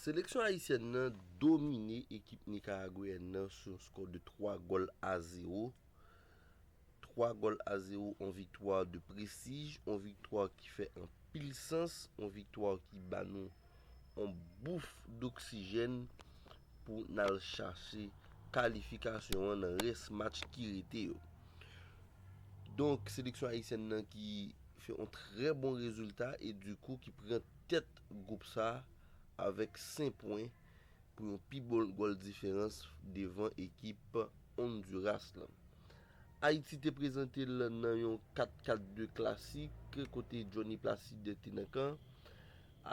Seleksyon ayisyèn nan domine ekip nikaragweyèn nan sou yon skò de 3 gòl a 0. 3 gòl a 0, yon viktwa de prestij, yon viktwa ki fè anpil sans, yon viktwa ki ba nou yon bouf doksijèn pou n al chache kalifikasyon an nan rès match ki rete yo. Donk, seleksyon ayisyèn nan ki fè yon trè bon rezilta e dikou ki pran tèt gwoup sa avèk 5 pwen pou yon pi bon gòl diferans devan ekip Onduras lan. Ayiti te prezante l nan yon 4 4 2 klasik kote Johnny Placide te nan kan.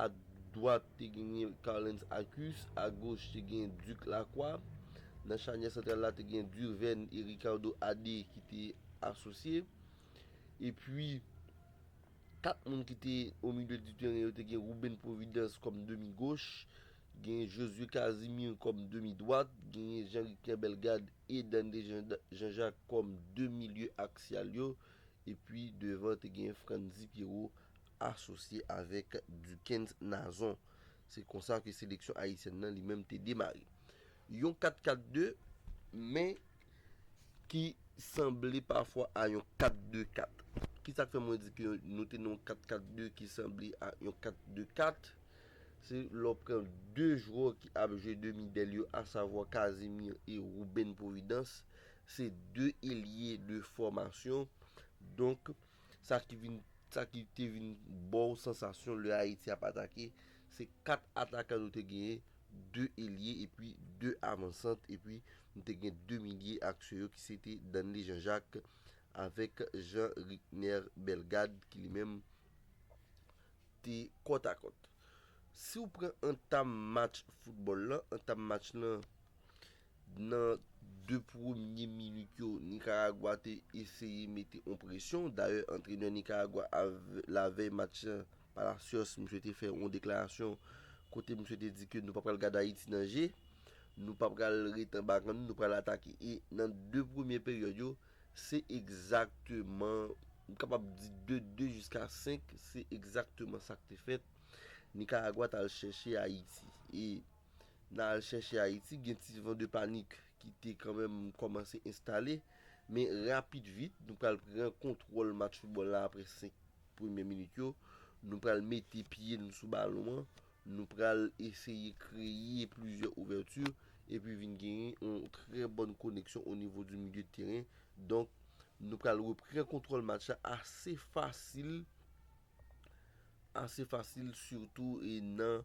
A dwat te genyen Carlens Acus, a goch te genyen Duc Lacroix. Nan chanyè santral la te genyen Durven e Ricardo Adé ki te asosye. Epi. Kat moun ki te omilye di teren yo te gen Ruben Providence kòm demi goch, genyen Josué Casimir kòm demi dwat, genyen Jean Ricner Bellegarde e Dande Jean Jacques kòm de milye aksyal yo, epi devan te genyen Frantzy Pierrot asosye avèk Duckens Nazon. Se konsa ke seleksyon ayisyèn nan li menm te demare. Yon 4-4-2, men. Ki sanble pafwa a yon 4-2-4. Ki sa k fè mwen di ke nou te nan yon 4-4-2 ki sanble a yon 4-2-4? Se lè w pran 2 jwè ki ap jwe demi dèl yo asavwa Casimir e Ruben Providence. Se 2 elye de fòmasyon. Donk, sa ki vin, sa ki te vin ba w sansasyon lè Ayiti ap atake, se 4 atakan nou te genyen, 2 elye epi 2 avansant epi M te gen 2 milye aksyon yo ki se te Danley Jean Jacques avèk Jean Rickner Bellegarde ki li menm te kòt a kòt. Si w pran antam match foutbòl lan, antam match lan nan 2 premye minit yo Nikaragwa te eseye mete on presyon, dayè antrenè Nikaragwa a lavèy match lan, Palacios misye te fè yon deklarasyon kote misye te di ke nou pa pral gad Ayiti nan je, nou pa pral ret anba gang nou, nou pral atake. E nan 2 premye peryòd yo, se egzakteman, m kapab di de 2 jiska 5, se egzakteman sa k te fèt. Nikaragwa t al chèche Ayiti. E nan al chèche Ayiti, gen ti van de panik ki te kanmenm kòmanse enstale. Men rapid vit, nou pral pran kontwòl match foutbòl la apre 5. Premye minit yo, nou pral mete pye nou sou balon an, nou pral eseye kreye plizyè ouvèti epi vin genyen yon trè bòn koneksyon o nivo di milye de teren. Donk, nou pral repran kontwòl match la ase fasil, ase fasil sitou nan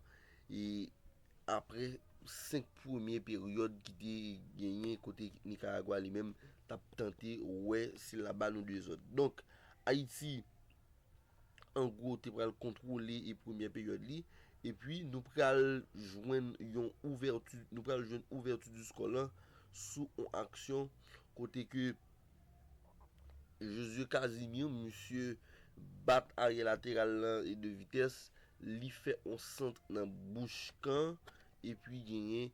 Apre 5 premye peryòd ki te genyen kote Nikaragwa li menm t ap tante wè si l ap ba nou dezòd. Donk, Ayiti an gwo te pral kontwole premye peryòd li. Epi nou pral jwenn yon ouvèti, nou pral jwenn ouvèti di skò lan sou yon aksyon kote ke Josué Casimir, misye bat aryè lateral lan e de vitès Li fè on sant nan bouch kan epi genyen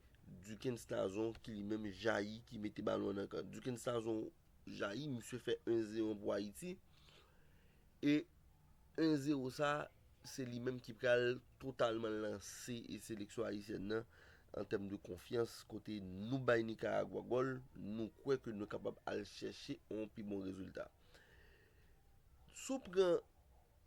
Dukens Tazon ki li menm jayi ki mete balon an nan kan. Dukens Tazon jayi, misye fè 1 zeron pou Ayiti. E 1 zero sa, se li menm ki pral totalman lanse e seleksyon ayisyèn nan an tèm de konfyans kote nou bay Nikaragwa gòl, nou kwè ke nou kapab al chèche on pi bon rezilta. Si w pran.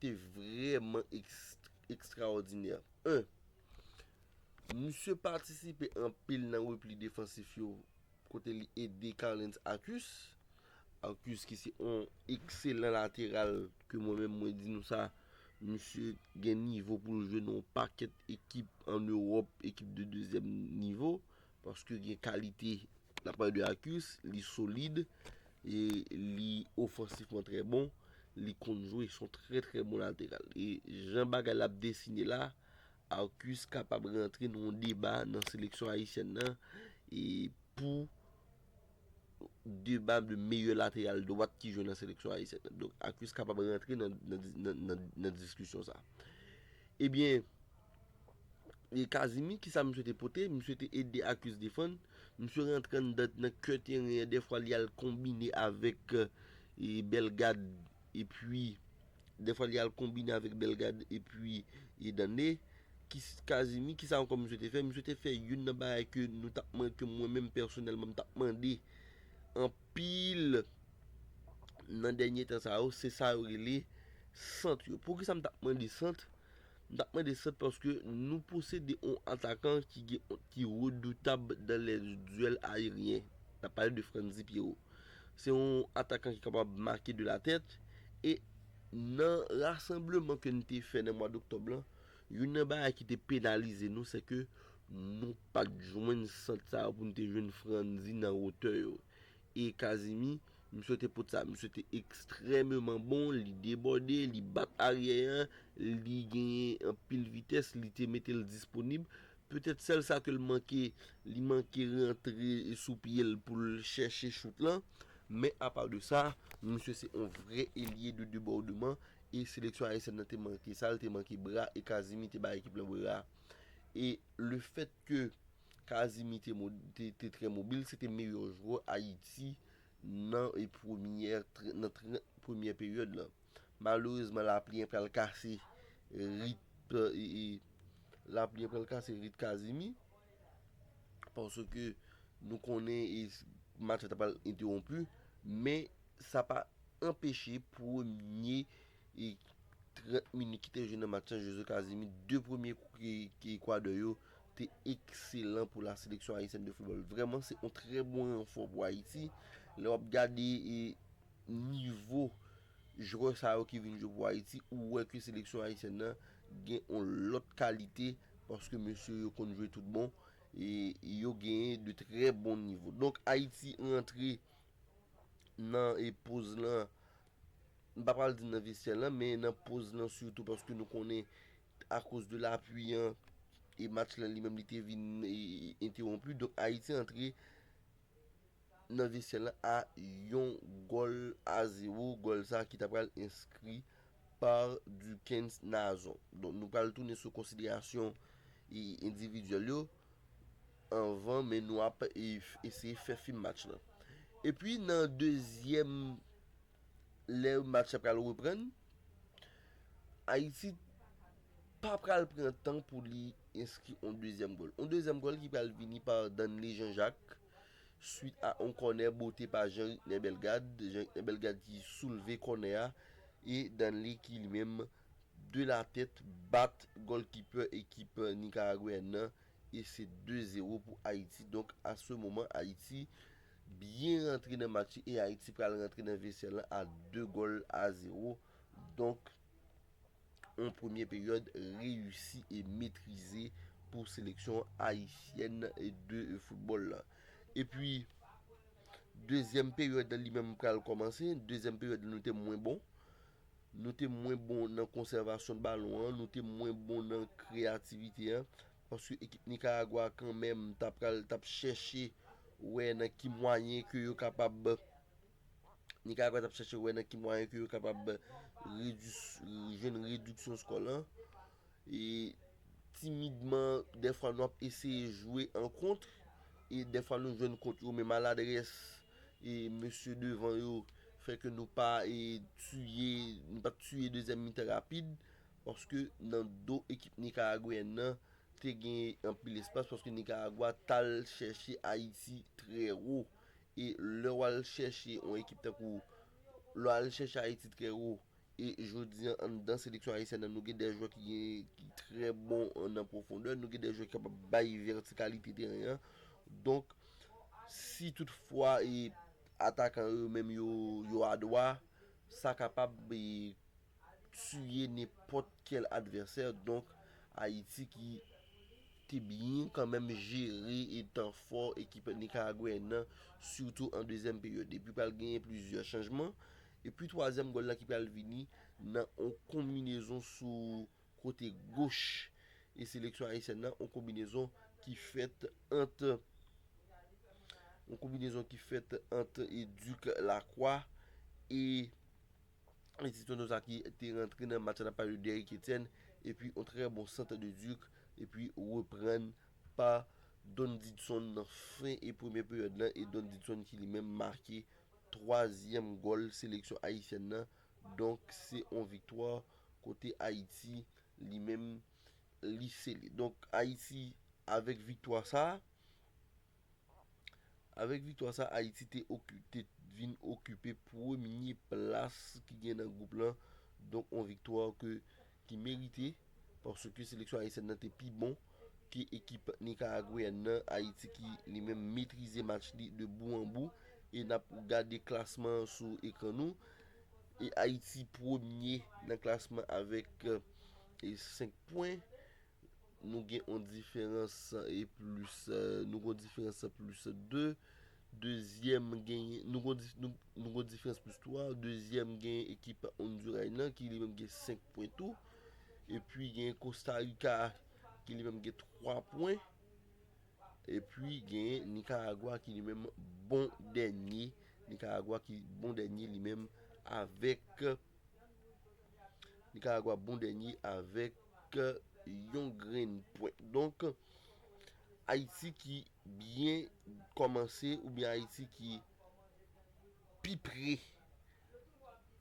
te vrèman ekstraòdinè. 1. Misye patisipe anpil nan repli defansif yo kote li ede Carlens Akus, Akus ki se yon ekselan lateral ke mwen menm mwen di nou sa, misye gen nivo pou l jwe nan yon pakèt ekip an Ewòp, ekip de dezyèm nivo, paske gen kalite N ap pale de Arcus, li solid, e li ofansifman trè bon, li konn jwe, son trè trè bon lateral. E jan bagay la ap desine la, Arcus kapab rantre nan yon deba nan seleksyon ayisyèn nan, e pou deba de meyè lateral dwat ki jwe nan seleksyon ayisyèn nan. Donk Arcus kapab rantre nan diskisyon sa. Ebyen, E Kazimi kisa misye te pote? Misye te ede Akus defann, misye rantre anndan nan kè teren an dèfwa li al konbine avèk Bellegarde epi dèfwa li al konbine avèk Bellegarde epi Dande Kazimi kisa ankò misye te fè? Misye te fè youn nan bagay ke nou tap mande ke mwen menm pèsonèlman m tap mande anpil nan dènye tan sa yo se sa yo rele sant yo Poukisa m tap mande sant? M tap mande sant paske nou posede on atakan ki gen ki redoutab dan lè duèl aeryen. Nap pale de Frantzy Pierrot. Se on atakan ki kapab make de la tèt e nan rasanbleman ke n te fè nan mwa doktòb lan, youn nan bagay ki te penalize nou se ke nou pat jwenn sant sa yo pou n te jwenn Frantzy nan wotè yo. E Kazimi, m swete pot sa a misye te ekstrèmeman bon, li debòde, li bat aryè an, li genyen anpil vitès, li te mete l disponib. Petèt sèl sa ke l manke, li manke rantre sou pye l pou l chèche chout lan. Men apa de sa, misye se yon vrè elye de debòdeman e seleksyon ayisyèn nan te manke sa, l te manke bra e Kazimi te bay ekip lan bra. E lefèt ke Kazimi te trè mobil, se te meyè jwè Ayiti nan premyè 30 premyè peryòd lan. Malerezman lapli an pral kase rit lapli an pral kase rit Kazimi paske nou konnen match la ta pral entewonpi men sa pa anpeche premye 30 minit ki te jwe nan match lan Jose Kazimi 2 premye kou ki Ekwatè yo te ekselan pou la seleksyon ayisyèn de foutbòl. Vrèman se yon trè bon ranfò pou Ayiti. Lè w ap gade nivo jwè sa yo ki vin jwe pou Ayiti, ou wè ke seleksyon ayisyèn nan gen yon lòt kalite paske mesye yo konn jwe tout bon e yo genyen de trè bon nivo. Donk Ayiti rantre nan poz lan, m pa pral di nan vestyè lan, men nan poz lan sitou paske nou konnen akoz de lapui an e match la li menm li te vin entewonpi donk Ayiti antre nan vesyè la a yon gòl a zewo gòl sa ki ta pral enskri pa Dukens Nazon donk nou pral tounen sou konsiderasyon endividyèl yo anvan men nou ap eseye fè fin match la epi nan dezyèm lè match la pral reprann, Ayiti pa pral pran tan pou li enskri yon dezyèm gòl. Yon dezyèm gòl ki pral vini pa Danley Jean Jacques swit a yon kònè bote pa Jean Ricner Bellegarde. Jean Ricner Bellegarde ki soulve kònè a e Danley ki li menm de la tèt bat gòlkipè ekip Nikaragweyèn nan e se 2 zero pou Ayiti. Donk a se moman Ayiti. byen rantre nan match li e Ayiti pral rantre nan vesyè lan a 2 gòl a 0, donk yon premye peryòd reyisi e metrize pou seleksyon ayisyèn de foutbòl lan. Epi dezyèm peryòd lan li menm pral kòmanse, dezyèm peryòd lan nou te mwen bon, nou te mwen bon nan konsèvasyon balon an, nou te mwen bon nan kreyativite an, Paske ekip Nicaragua a kanmenm ta pral tap chèche wè nan ki mwayen ke yo kapab Nicaragua tap chèche wè nan ki mwayen ke yo kapab redis jwenn rediksyon skò lan e timidman dèfwa nou ap eseye jwe an kontr e dèfwa nou jwenn kont yo men maladrès e mesye devan yo fè ke nou pa e tiye nou pat tiye dezyèm mitan rapid Paske nan do ekip Nikaragweyèn nan te gen anpil espas paske Nikaragwa tal chèche Ayiti trè wo e lè wal chèche yon ekip tankou lè wal chèche Ayiti trè wo e jodi an anndan seleksyon ayisyèn nan nou gen dè jwè ki gen ki trè bon nan pwofondè nou gen dè jwè ki kapab bay vètikalite teren an donk si tout fwa e atakan yo menm yo yo adwa sa kapab e. tiye nenpòt kèl advèsè donk Ayiti ki te byen kanmenm jere etan fò ekip Nikaragweyèn nan sitou an dezyèm peryòd epi pral genyen plizyè chanjman epi twazyèm gòl la ki pral vini nan on konminezon sou kote goch e seleksyon Ayisyèn nan on konbinezon ki fèt ant on konbinezon ki fèt ant Duc Lacroix e. Alexis Espinoza ki te rantre nan match la nan plas de Derrick Etienne epi yon trè bon sant de Duc epi reprann pa Don Didson nan fen premye peryòd la e Don Didson ki li menm make twazyèm gòl seleksyon ayisyèn nan. Donk se yon viktwa kote Ayiti li menm li sele. Donk Ayiti avèk viktwa sa a. Avèk viktwa sa Ayiti te vin okipe premye plas ki gen nan gwoup lan donk yon viktwa ki merite paske seleksyon ayisyèn nan te pi bon ke ekip nikaragweyèn nan, Ayiti ki li menm metrize match li de bou an bou e n ap gade klasman an sou ekran nou e Ayiti premye nan klasman avèk 5 pwen Nou gen yon diferans e plis. Nou gen yon diferans plis 2. Dezyèm genyen. Nou gen yon diferans plis 3. Dezyèm genyen ekip Onduray nan ki li menm gen 5 pwen tou. E pi genyen Kostarika ki li menm gen 3 pwen. E pi genyen Nikaragwa ki li menm bon dènye. Nikaragwa ki bon dènye li menm avèk. Nikaragwa bon dènye avèk. ke yon grenn pwen. Donk, Ayiti ki byen kòmanse oubyen Ayiti ki pi pre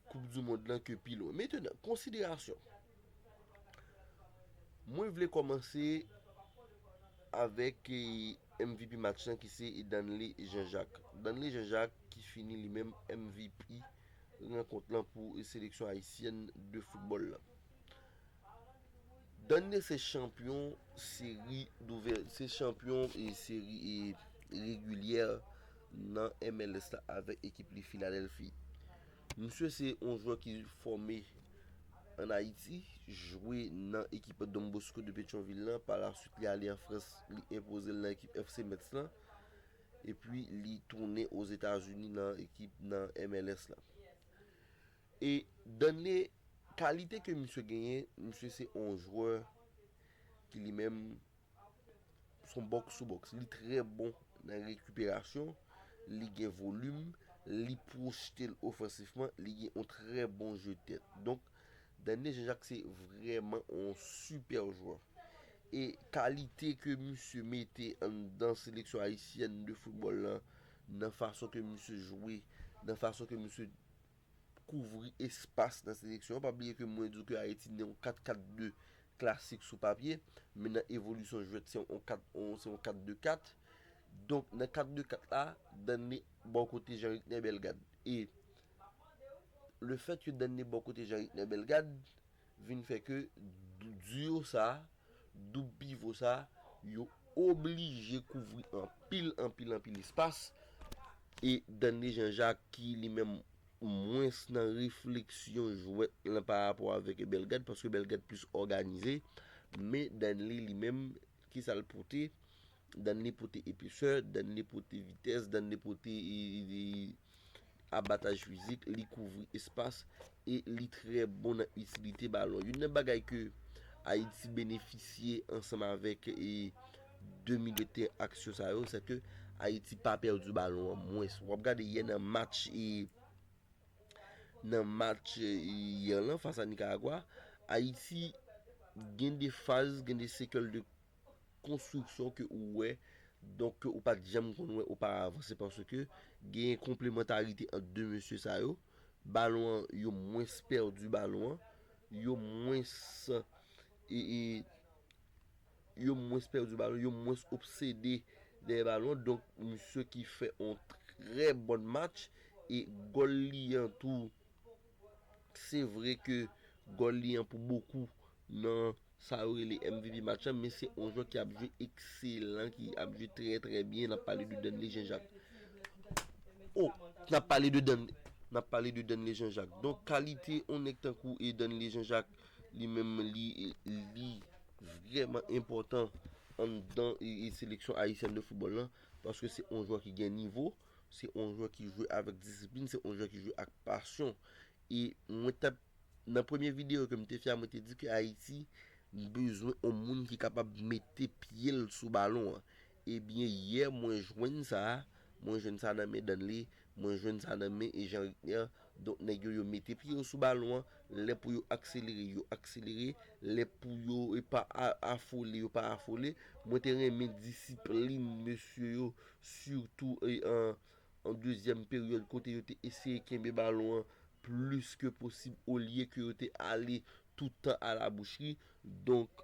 koup di mond lan ke pi lwen. Metenan, konsiderasyon. Mwen vle kòmanse avèk MVP match lan ki se Edanle Jean Jacques. Edanle Jean Jacques ki fini li menm MVP rankont lan pou seleksyon ayisyèn de foutbòl lan. Danne se chanpyon seri douvè, se chanpyon e seri e regilyè nan MLS la avèk ekip li Filadelfi. Msye se yon jwè ki fòme an Ayiti, jwe nan ekip Donbosko de Petyon-Vil la, pa la swit li ale an Frans, li enpoze l nan ekip FC Metz la, epi li tounen o Zetazini nan ekip nan MLS la. E Danley kalite ke misye genyen, misye se yon jwè ki li menm son box to box. Li trè bon nan rekiperasyon, li gen volim, li pwojte l ofansifman, li gen yon trè bon jeu tèt. Donk Danley Jean Jacques se vrèman yon sipè jwè. E kalite ke misye mete anndan seleksyon ayisyèn de foutbòl lan, nan fason ke misye jwe, nan fason ke misye kouvri espas nan seleksyon an. Pa bliye ke mwen di w ke Ayiti gen yon 4-4-2 klasik sou papye, men nan evolisyon jwèt se yon 4-2-4. Donk nan 4-2-4 la, Danley bò kote Jean-Ricner Bellegarde. E le fèt ke Danley bò kote Jean-Ricner Bellegarde, vin fè ke duo sa, doub pivo sa, yo oblije kouvri anpil, anpil, anpil espas, e Dande Jean Jacques ki li menm mwens nan refleksyon jwèt lan pa rapò avèk Bellegarde, paske Bellegarde plis òganize, men Danley li menm Kisa l pote? Dann li pote epesè, dann li pote vitès, dann li pote abataj fizik, li kouvri espas e li trè bon nan itilite balon. Youn nan bagay ke Ayiti benefisye ansanm avèk e 2 milye tè aksyon sa yo, sè ke Ayiti pa pèdi balon an mwens. Wap gade yè nan match e. Nan match yè lan fas a Nikaragwa, Ayiti gen de faz, gen de sekèl de konstriksyon ke ou wè, donk ke ou pa t janm konn wè oparavan. Se paske genyen konplemantarite ant 2 mesye sa yo. Balon an, yo mwens pèdi balon an. Yo mwens e. Yo mwens pèdi balon, yo mwens obsede dèyè balon. Donk, misye ki fè yon trè bon match. E gòl li an tou, se vre ke gòl li an pou bokou nan sa yo rele MVP match la. Men se yon jwè ki ap jwe ekselan, ki ap jwe trè trè byen. N ap pale de Danley Jean-Jacques. O! N ap pale de Danley Jean-Jacques. Donk, kalite yon nèg tankou Danley Jean-Jacques, Li menm li li vrèman enpòtan anndan seleksyon ayisyèn de foutbòl la paske se yon jwè ki gen nivo, se yon jwè ki jwe avèk disiplin, se yon jwè ki jwe ak pasyon. E mwen tap, nan premye videyo ke m te fè a mwen te di ke Ayiti bezwen yon moun ki kapab mete pye l sou balon an. Ebyen yè mwen jwenn sa, mwen jwenn sa nan men Danley, mwen jwenn sa nan men Jean Rickner, donk nèg yo yo mete pye yo sou balon an, lè pou yo akselere yo akselere, lè pou yo pa afole yo pa afole, mwen te renmen disiplin mesye yo sitou an dezyèm peryòd kote yo te eseye kenbe balon an plis ke posib olye ke yo te ale tout tan a la boucherie, donk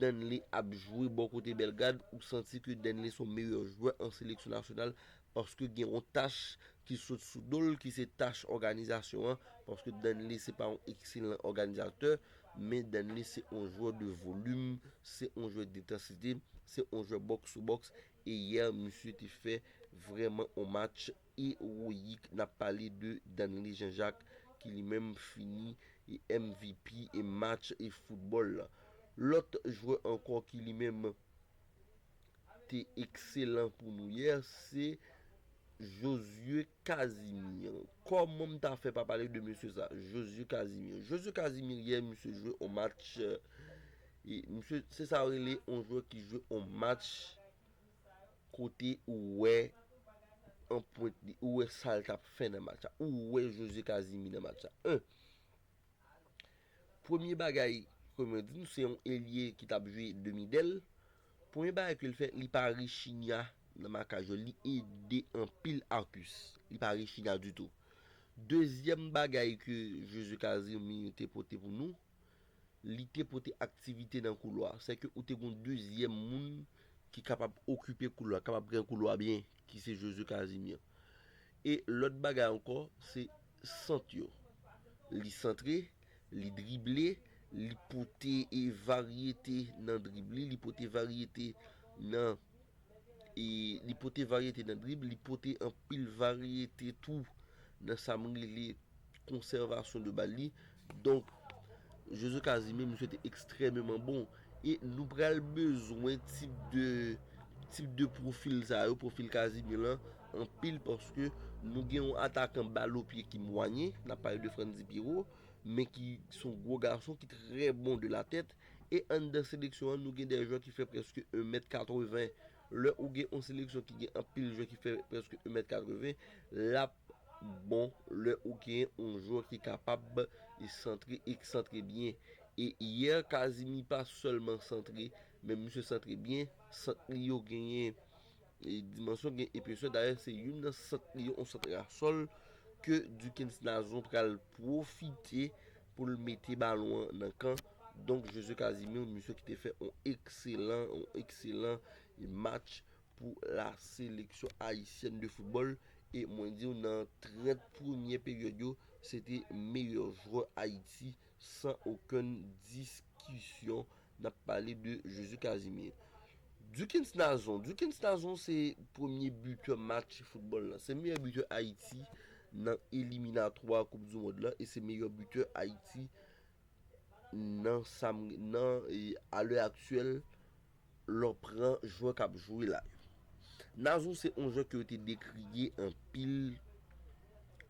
Danley ap jwe bò kote Bellegarde, ou santi ke Danley son meyè jwè an seleksyon nasyonal paske gen yon tach ki sot sou do l ki se tach òganizasyon an paske Danley se pa yon ekselan òganizatè men Danley se yon jwè de volim, se yon jwè dentansite, se yon jwè bòks sou bòks e yè misye te fè vrèman yon match. Eroyik nap pale de Danley Jean Jacques ki li menm fini mvp match football lan. Lòt jwè ankò ki li menm te ekselan pou nou yè se Josué Casimir. Kòman m ta fè pa pale de mesye sa Josué Casimir. Josué Casimir yè misye jwe on match misye se sa yo rele on jwè ki jwe on match Kote ou wè anpwent li, ou wè sa l t ap fè nan match la, ou wè Jose Casimir nan match la. 1, Premye bagay, kòm yo di nou, se yon elye ki t ap jwe demi dèl. Premye bagay ke l fè, li pa rechigna nan makaj yo. Li ede anpil Arcus. Li pa rechigna ditou. Dezyèm bagay ke Jose Casimir te pote pou nou. Li te pote aktivite nan koulwa a. Sè ke ou te gen yon dezyèm moun ki kapab okipe koulwa, ki kapab gen koulwa byen, ki se Josue Casimir. E lòt bagay ankò, se sant yo. Li santre, li drible, li pote varyete nan drib li, li pote varyete nan. e li pote varyete nan drib, li pote anpil varyete tou nan sa m rele konsèvasyon de bal li. Donk, Josue Casimir misye te ekstrèmeman bon. E nou pral bezwen tip de tip de pwofil sa yo, pwofil Casimir lan anpil paske nou gen yon atakan bal o pye ki mwayen, n ap pale de Frantzy Pierrot men ki son gwo gason ki trè bon de la tèt E anndan seleksyon an nou gen 2 jwè ki fè prèske 1 mèt 80. Lè ou gen on seleksyon ki gen anpil jwè ki fè prèske 1 mèt 80, lap bon lè ou gen on jwè ki kapab santre e k santre byen. E yè Kazimi pa sèlman santre, men misye santre byen, sant li yo genyen. Dimansyon gen epesè, dayè se youn nan sant li yo, yon sant rasòl ke Duckens Nazon pral pwofite pou l mete balon an nan kan donk Josue Casimir, yon misye ki te fè yon ekselan, yon ekselan match pou la seleksyon ayisyèn de foutbòl e mwen di w nan 30 premye peryòd yo se te meyè jwè Ayiti San okenn diskisyon n ap pale de Jezi Casimir. Dukens Nazon Dukens Nazon se premye bitè match foutbòl la. Se meyè bitè Ayiti nan eliminatwa koup du mond la e se meyè bitè Ayiti nan sa m nan a lè aktyèl. Lò pran jwè kap jwe la yo. Nazon se on jwè ke yo te dekriye anpil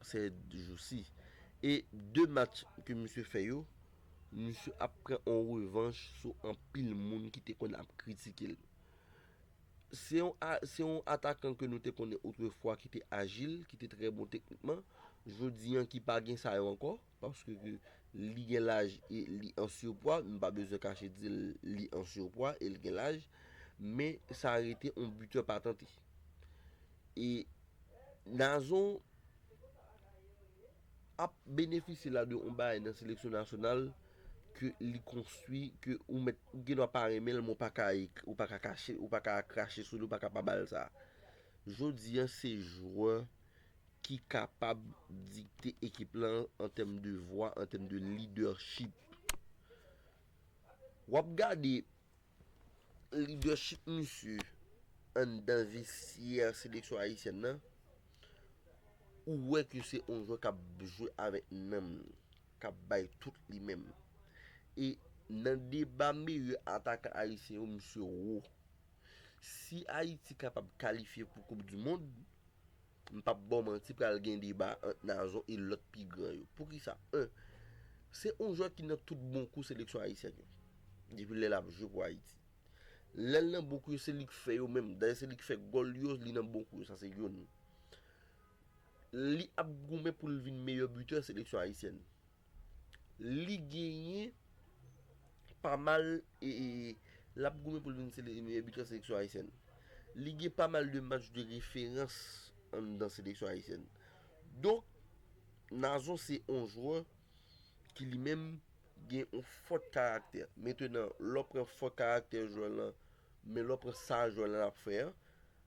sè jou si. E 2 match ke misye fè yo, misye ap pran on revanch sou anpil moun ki te konn ap kritike l. Se on a, se on atakan ke nou te konnen otrefwa ki te ajil, ki te trè bon teknikman, jodi an ki pa gen sa yo ankò. Paske ke li gen laj e li an surpwa, m pa bezwen kache di l li an surpwa e l gen laj, men sa rete on buteur patante. E Nazon ap benefisye la de on bagay nan seleksyon nasyonal ke li konstwi, ke ou mèt, ou gen dwa pa renmen l men ou pa ka, ou pa ka kache, ou pa ka krache sou li, ou pa ka pa ba l sa. Jodi an se jwè ki kapab dikte ekip lan an tèm de vwa, an tèm de lidèchip. W ap gade lidèchip misye anndan vestyè seleksyon ayisyèn nan, ou wè ke se yon jwè k ap jwe avèk nanm li, k ap bay tout li menm. E nan deba meyè atakan ayisyen yo, misye wo. Si Ayiti kapab kalifye pou koup di mond, M pap baw manti pral gen deba ant Nazon e lòt pi gran yo. Poukisa? 1, Se yon jwè ki nan tout bon kou seleksyon ayisyèn yo. Depi lè lap jwe pou Ayiti. Lè l nan bon kou yo se li k fè yo menm. Dayè se li k fè gòl yo, li nan bon kou yo. Sa se youn. Li ap goumen pou l vin meyè bitè seleksyon ayisyèn. Li genyen pa mal lap goumen pou l vin sele meyè bitè seleksyon ayisyèn. Li gen pa mal de match de referans anndan seleksyon ayisyèn. Donk, Nazon se yon jwè ki li menm gen yon fòt karaktè. Mentenan, lè w pran fòt karaktè jwè lan, men lè w pran sa jwè lan ap fè an,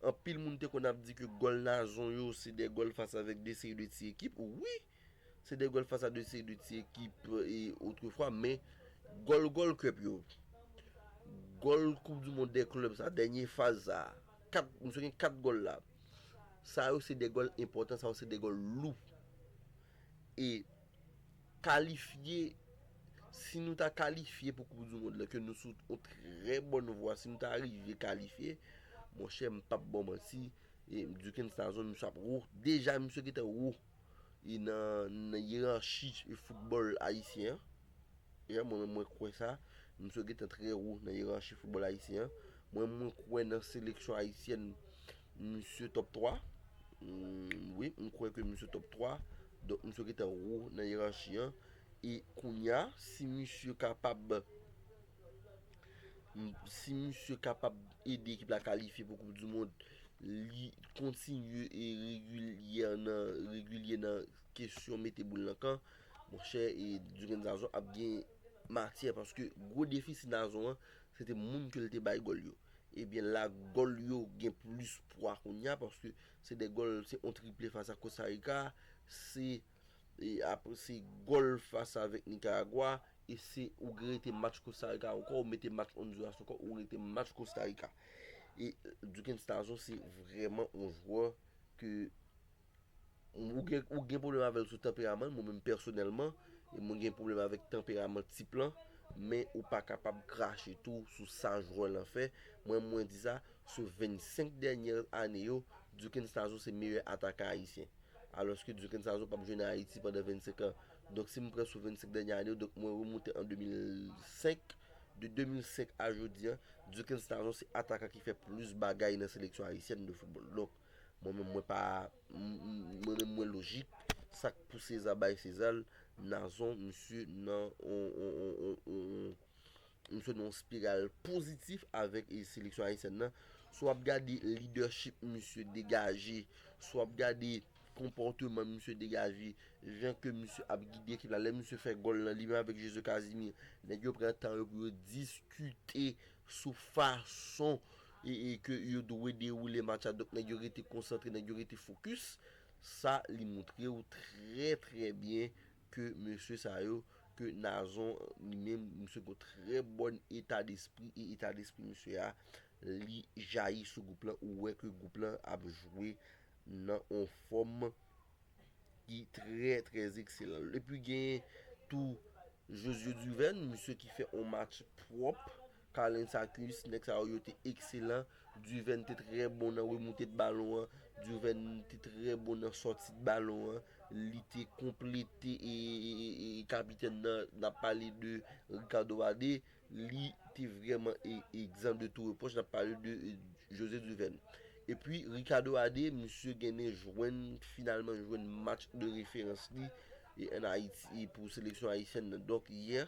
anpil moun te konn ap di ke gòl Nazon yo se de gòl fas avèk de seri de ti ekip. Wi! Se de gòl fas a de seri de ti ekip e otrefwa men gòl gòl kep yo. Gòl koup di mond de klèb sa dènye faz sa. Kat misye gen 4 gòl la. Sa yo se de gòl enpòtan sa yo se de gòl lou. E kalifye si nou ta kalifye pou koup di mond la ke nou sou on trè bòn vwa si nou ta rive kalifye monchè m pap baw manti e Duckens Nazon misye ap wou deja misye gentan wou. e nan yeranchi e foutbòl ayisyen an. Eè mwen menm mwen kwè sa, misye yo gentan trè wo nan yeranchi foutbòl ayisyen an. Mwen menm mwen kwè nan seleksyon ayisyèn misye top 3. Wi, mwen kwè ke misye top 3. Donk misye gentan wo nan yeranchi an. E kounya si misye kapab. si misye kapab ede ekip la kalifye pou koup du mond, li kontinye e regilyè nan, regilyè nan kesyon mete boul nan kan, monchè e Duren Dazon ap gen matyè paske gwo defisi Dazon an, se te moun ke li te bay gòl yo. Ebyen la gòl yo gen plis pwa kounya paske se de gòl, se yon triple fas ak Kostarika, se. E apre se gòl fas avèk Nikaragwa e se ou gen rete match Kosta Rika ankò ou mete match Ondiras ankò ou rete match Kosta Rika. E Dukens Tazon se vrèman yon jwè ke ou gen pwoblèm avèl sou tanperaman l, mwen menm pèsonèlman e mwen gen pwoblèm avèk tanperaman tip lan, men ou pa kapab krache tou sou sa jwè lan fè. Mwen mwen di sa, sou 25 dènyè ane yo, Dukens Tazon se meyè atakan ayisyen. Alòske Duke Nsazo pap jwe nan Ayiti pandan 25 an. Donk si m pran sou 25 dènye ane yo, donk mwen remoute an 2005, de 2005 a jodi an, Duke Nsazo se atakan ki fè plis bagay nan seleksyon ayisyèn de foutbòl. Donk, mwen menm mwen pa, mwen menm mwen lojik, sa k pou Seza bay Seza l, Nazon misye nan yon. M sot nan yon spiral pozitif avèk seleksyon ayisyèn nan. Si w ap gade lidèchip misye degaje, si w ap gade konpòteman misye degaje, jan ke misye ap gide ekip la, lè misye fè gòl lan, li menm avèk Jezi Kazimi, nèg yo pran tan yo pou yo diskite sou fason e ke yo dwe dewoule match la. Donk nèg yo rete konsantre, nèg yo rete fokis. Sa li montre ou trè trè byen ke mesye sa yo, ke Nazon li menm, misye gon trè bòn eta despri, e eta despri misye a, li jayi sou gwoup lan, ou wè ke gwoup lan ap jwe nan on fòm ki trè trè ekselan. Epi genyen tou Josue Duverne, misye ki fè on match pwòp. Carlens Sacus, nèg sa yo yo te ekselan, Duvène te trè bon nan remoute de balon an, Duvène te trè bon nan sòti de balon an, li te konplete kapitèn nan, n ap pale de Ricardo Wade, li te vrèman egzan de tou repwòch, n ap pale de José Duvène. Epi Ricardo Wade, misye genen jwenn, finalman jwenn match de referans li, an Ayiti, pou seleksyon ayisyèn nan, donk yè.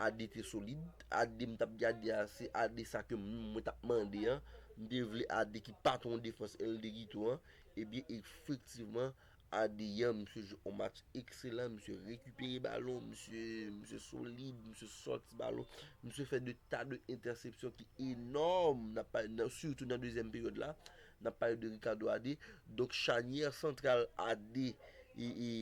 AD te solid, AD m tap gade a se AD sa ke mwen tap mande an, m te vle AD ki patron defans El Derito an, ebyen efektivman AD yan misye jwe yon match ekselan, misye rekipere balon, misye misye solid, misye sòti balon, misye fè de ta de entèsepsyon ki enòm, nap pale nan sitou nan dezyèm peryòd la, nap pale de Ricardo AD, donk chanyè santral AD e e.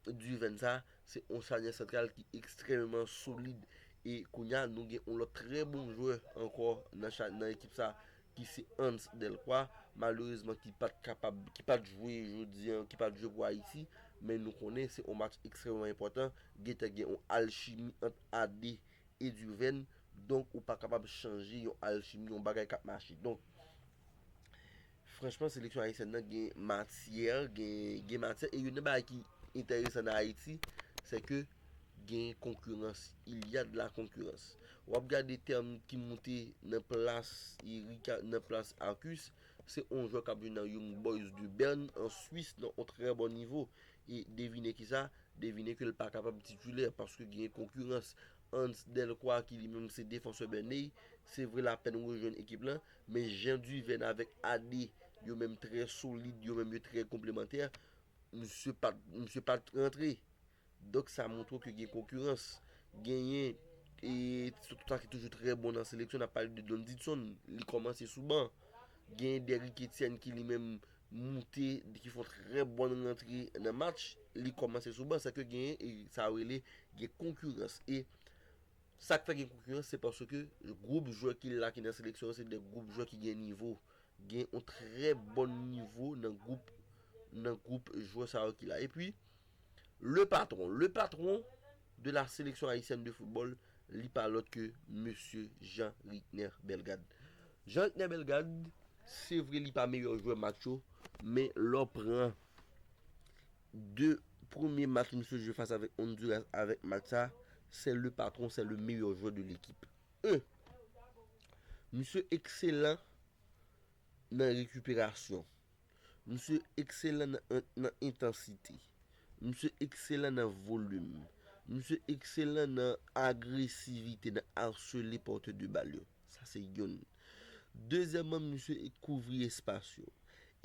Duvèn sa a, se yon charnyè santral ki ekstrèmeman solid e kounye a nou gen yon lòt trè bon jwè ankò nan ekip sa a ki se Hans Delcroix, malerezman ki pa t kapab, ki pa t jwe jodi an, ki pa t jwe pou Ayiti, men nou konnen se yon match ekstrèmeman enpòtan, gen te gen yon alchimi ant AD e Duvèn, donk ou pa kapab chanje yon alchimi, yon bagay k ap mache. Donk, Franchman seleksyon ayisyèn nan gen matyè, gen matyè e youn nan bagay ki enteresan nan Ayiti se ke gen konkirans, il ya de la konkirans. W ap gade tèm ki moute nan plas Rika, nan plas Arcus, se yon jwè k ap jwe nan Young Boys de Bern an Swis nan yon trè bon nivo e devine ki sa, devine ke l pa kapab titilè paske gen konkirans. Hans Delcroix ki li menm se defansè Bernay, se vre l apèn rejwenn ekip lan Men jan Duvène avèk Ade yo menm trè solid, yo menm yo trè konplemantè, msye pat, msye pat rantre. Donk sa montre ke gen konkirans. Genyen e sou sa ki toujou trè bon nan seleksyon, n ap pale de Don Didson, li kòmanse sou ban. Genyen Derrick Etienne ki li menm moute, ki fè yon trè bon rantre nan match, li kòmanse sou ban. Sa vle di ke genyen e sa yo rele gen konkirans e. Sa k fè gen konkirans se paske gwoup jwè ki la ki nan seleksyon an se de gwoup jwè ki gen nivo. Gen yon trè bon nivo nan gwoup nan gwoup jwè sa yo ki la. Epi, le patron, le patron de la sélection haïtienne de football li pa lòt ke mesye Jean Rickner Bellegarde. Jean Rickner Bellegarde, se vre li pa meyè jwè match yo, men lè w pran. 2 premye match misye jwe fas avèk Honduras avèk match sa sè le patron sè le meyè jwè de lekip e misye ekselan nan rekiperasyon misye ekselan nan entansite misye ekselan nan volim misye ekselan nan agresivite nan arsele pòtè de bal yo sa se youn. Dezyèmman misye kouvri espas yo.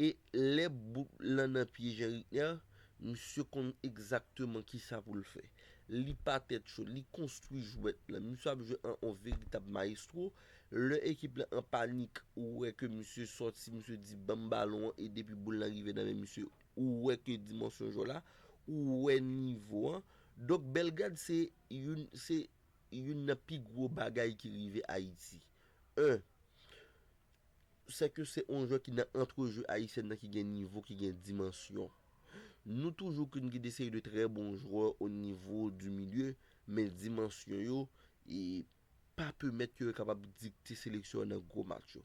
E lè bout lan nan pye Jean Ritner, misye konn egzakteman kisa pou l fè. Li pa tèt cho, li konstwi jwèt lan. Misye ap jwe an on veritab maestro. Lè ekip lan an panik, ou wè ke misye sòti, misye di ban m balon an e depi boul lan rive nan men misye, ou wè ke dimansyon jwè la, ou wè nivo an. Donk Bellegarde se youn, se youn nan pi gwo bagay ki rive Ayiti. 1, Se ke se on jwè ki nan antrejeu Ayisyèn nan ki gen nivo, ki gen dimansyon. Nou toujou konn gen de seri de trè bon jwè o nivo du milieu, men dimansyon yo e pa pemèt ke yo kapab dikte seleksyon an nan gwo match yo.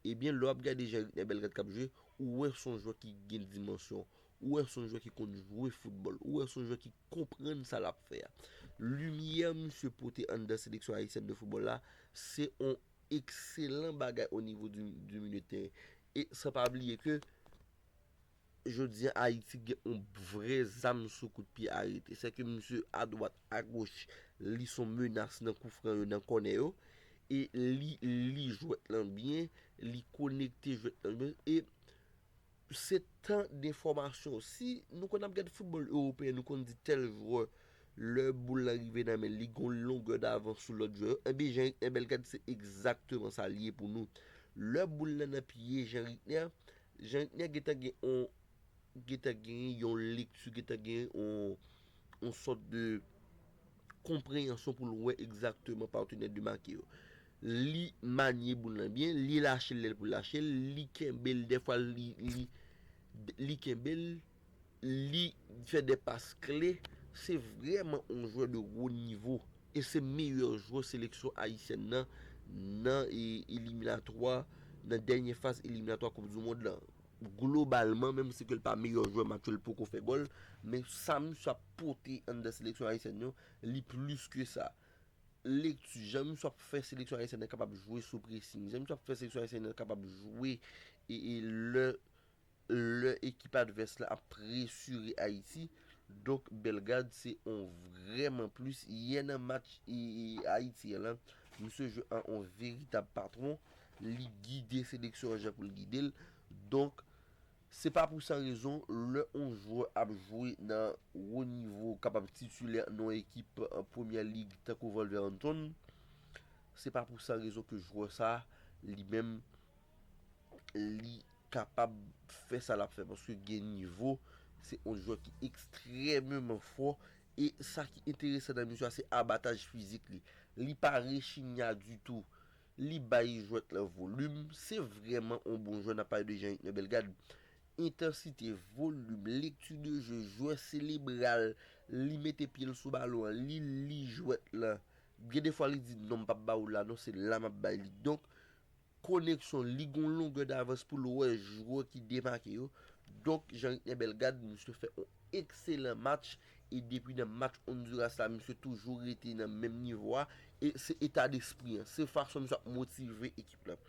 Ebyen lè w ap gade jan Ritnè Belrad k ap jwe, ou wè s on jwè ki gen dimansyon, Ou wè son jwè ki konn jwe foutbòl. Ou wè son jwè ki konprann sa lap fè a. Limyè misye pote anndan seleksyon ayisyèn de foutbòl la, se on ekselan bagay o nivo di milye de teren. E san pa bliye ke jodi a Ayiti gen on vre zam sou kout pye arete. Se ke misye a dwat, a goch, li son menas nan kou fran yo, nan kònè yo. E li li jwèt lan byen, li konekte jwèt lan byen. Se tan de fòmasyon. Si nou konn ap gad foutbòl ewopeyen, nou konn di tèl jwè, lè boul lan rive nan men l, li gen yon longè davans sou lòt jwè yo. Enben, Jean Ricner Bellegarde se egzakteman sa l ye pou nou. Lè boul lan nan pye Jean Ricner, Jean Ricner gentan gen yon, gentan genyen yon lekti, gentan genyen yon sòt de konpreyansyon pou l wè egzakteman patenè de make yo. Li manye boul lan byen, li lache l lè l pou lache l, li kenbe l dèfwa li li kenbe l, li fè de pas kle, se vrèman yon jwè de wo nivo e se meyè jwè seleksyon ayisyèn nan nan eliminatwa nan dènye faz eliminatwa koup du mond lan globalman menm si ke l pa meyè jwè match yo l poko fè gòl men sa misye ap pote anndan seleksyon ayisyèn yo li plis ke sa. Lekti, Jan Miswa ap fè seleksyon ayisyèn nan kapab jwe sou presing. Jan Miswa ap fè seleksyon ayisyèn nan kapab jwe e lè lè ekip advès la ap presire Ayiti. Donk Bellegarde se on vrèman plis. Yè nan match e Ayiti an lan, misye jwe an on veritab patwon. Li gide seleksyon an jan pou l gide l. Donk. Se pa pou san rezon, lè on jwè ap jwe nan wo nivo, kapab titilè nan on ekip Premyè Lig tankou Wolverhampton, se pa pou san rezon ke jwè sa a, li menm, li kapab fè sa l ap fè. Paske gen nivo, se on jwè ki ekstrèmeman fò. E sa ki enteresan nan misye a, se abataj fizik li. Li pa rechigna ditou. Li bay jwèt lan volim, se vrèman on bon jwè nap pale de Jean-Yves nan Belgad, entansite, volim, lekti de jeu, jwè selebral, li mete pyel sou balon an, li li jwèt lan, gen de fwa li di non mpap ba ou la non se la map bay li donk koneksyon li gon longè davans poul wè jwè ki demake yo donk Jean-Yves nan Belgad misye fè on Ekselan match e depi nan match Onduras la misye toujou rete nan menm nivo a e se eta despri an, se fason misye ap motive ekip lan.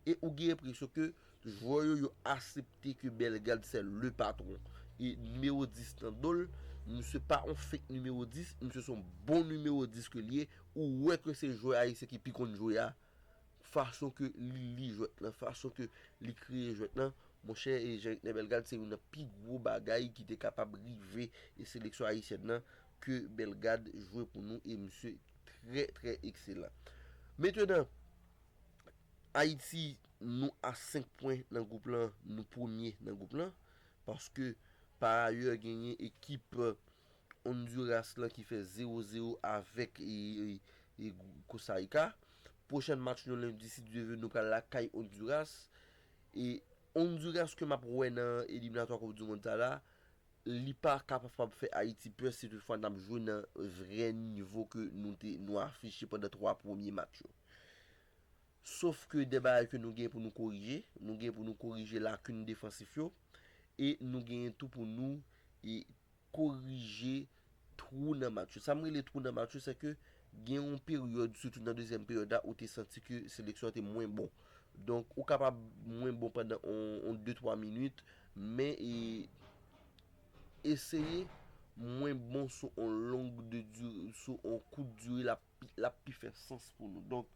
E ou gen enpresyon ke jwè yo yo asepte ke Bellegarde sè le patron. E nimewo 10 nan do l, misye pa yon fake nimewo 10, misye se yon bon nimewo 10 ke li ye, ou wè ke se jwè ayisyen ki pi konn jwe a. Fason ke li li jwèt lan, fason ke li kreye jwèt lan, monchè e Jean Ritner Bellegarde se youn nan pi gwo bagay ki te kapab rive e seleksyon ayisyèn lan ke Bellegarde jwe pou nou e misye trè trè ekselan. Metenan, Ayiti nou a 5 pwen nan gwoup lan, nou premye nan gwoup lan, paske pa ayè genyen ekip. Honduras lan ki fè 0 0 avèk Costa Rica. Pwochèn match nou lendi si Dye ve nou pral lakay Honduras. E Honduras ke map wè nan eliminatwa koup du mond sa la, li pa kapab fè Ayiti pè si tout fwa nap jwe nan vrè nivo ke nou te nou afiche pandan 3 premye match yo. Sof ke de bagay ke nou gen pou nou korije, nou gen pou nou korije lakin defansif yo e nou gen tou pou nou korije twou nan match yo. Sa m rele twou nan match yo, sèke gen yon peryòd, sitou nan dezyèm peryòd la, ou te santi ke seleksyon an te mwen bon. Donk, ou kapab mwen bon pandan yon de twa minit, men e eseye mwen bon sou yon long de dire, sou yon kout dire, l ap pi fè sans pou nou. Donk,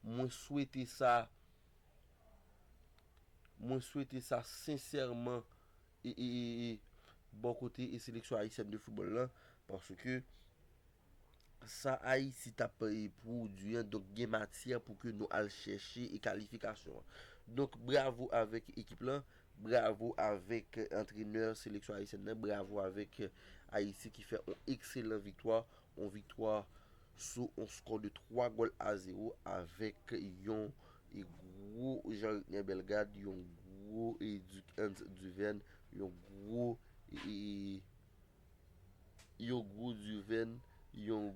mwen swete sa Mwen swete sa sensèman bò kote seleksyon ayisyèn de foutbòl la paske sa Ayiti t ap pwodui an donk gen matyè pou ke nou al chèche kalifikasyon an. Donk bravo avèk ekip lan, bravo avèk antrenè seleksyon ayisyèn nan, bravo avèk Ayiti ki fè yon ekselan viktwa Yon viktwa sou yon skò de 3 gòl a 0 avèk yon gwo Jean Ricner Bellegarde, yon gwo Duc Ernst Duverne, yon gwo Duverne, yon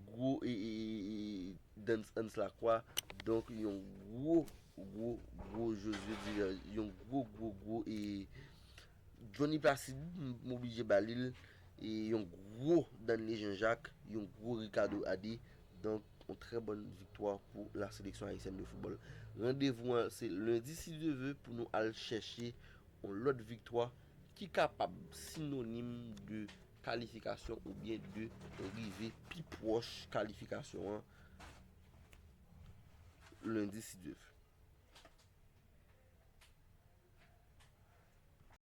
gwo Dens Ernst Lacroix, donk yon gwo gwo gwo Josué Duverne, yon gwo gwo gwo Jhonny Placide m oblije ba li l yon gwo Danley Jean Jacques, yon gwo Ricardo Adé donk yon trè bòn viktwa pou la seleksyon ayisyèn de foutbòl. Randevou an se lendi si Dye ve pou nou al chèche yon lòt viktwa ki kapab sinonim de kalifikasyon oubyen de rive pi pwòch kalifikasyon an lendi si Dye ve.